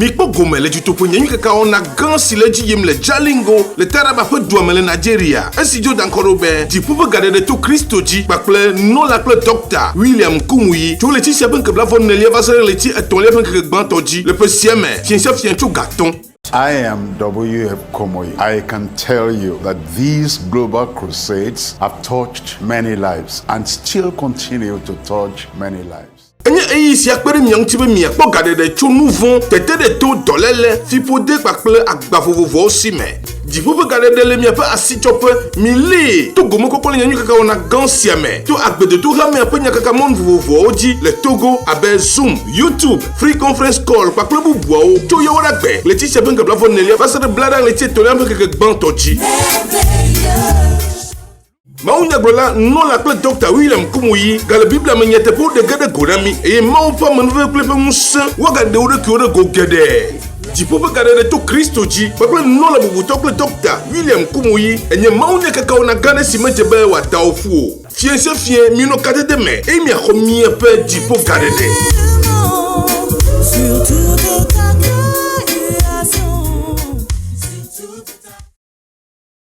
Mikpɔ gome le dutoƒe nye nyikekawɔna gã si le edzi yim le Jalingo le Taraba ƒe dua me le Nigeria. Esi Jordan kɔ ɖo be dziƒo ƒe gaɖeɖe to Kristo dzi kpakple nunɔla kple Dɔkta William Nkumuyi tso ɣleti sia ƒe ŋkeke blaeve-nelia va se ɖe ɣleti etɔ̃lia ƒe ŋkeke gbãtɔ dzi le ƒe sia me, fiẽ sia fiẽ tso ga tɔ̃. I am WF Komoyi. I can tell you that these global crusades have touched many lives and still continue to touch many lives. Enye ɣeyiɣi sia kpe ɖe mia ŋuti be miakpɔ gaɖeɖe tso nu vɔ̃, teteɖeto, dɔléle, fiƒode kpakple agba vovovoawo si me. Dziƒo ƒe gaɖeɖe le miaƒe asitsɔƒe. Milée to gomekpɔkpɔ le nyanyuikakawɔna gã sia me to agbedodohamea ƒe nyakakamɔnu vovovoawo dzi le Togo abe Zoom, YouTube, Free Conference Call kpakple bubuawo tso Yawoɖagbe ɣleti sia ƒe ŋkeke blafonelia va se ɖe Blaɖa ɣleti etɔ̃lia ƒe ŋkeke gbãtɔ dzi. Mawunyagblɔla, nunɔla kple Dɔkta William Kumuyi gale Biblia me nyateƒewo ɖe ge ɖe go na mí eye Mawu ƒe amenuveve kple eƒe ŋusẽ woagaɖe wo ɖokuiwo ɖe go geɖe. Dziƒo ƒe gaɖeɖe to Kristo dzi kpakple nunɔla bubutɔ kple Dɔkta William Kumuyi enye mawunyakekawɔna gã aɖe si medze be wòada wo ƒu o. Fiẽ sia fiẽ, minɔ kadede me eye miaxɔ miaƒe dziƒo gaɖeɖe.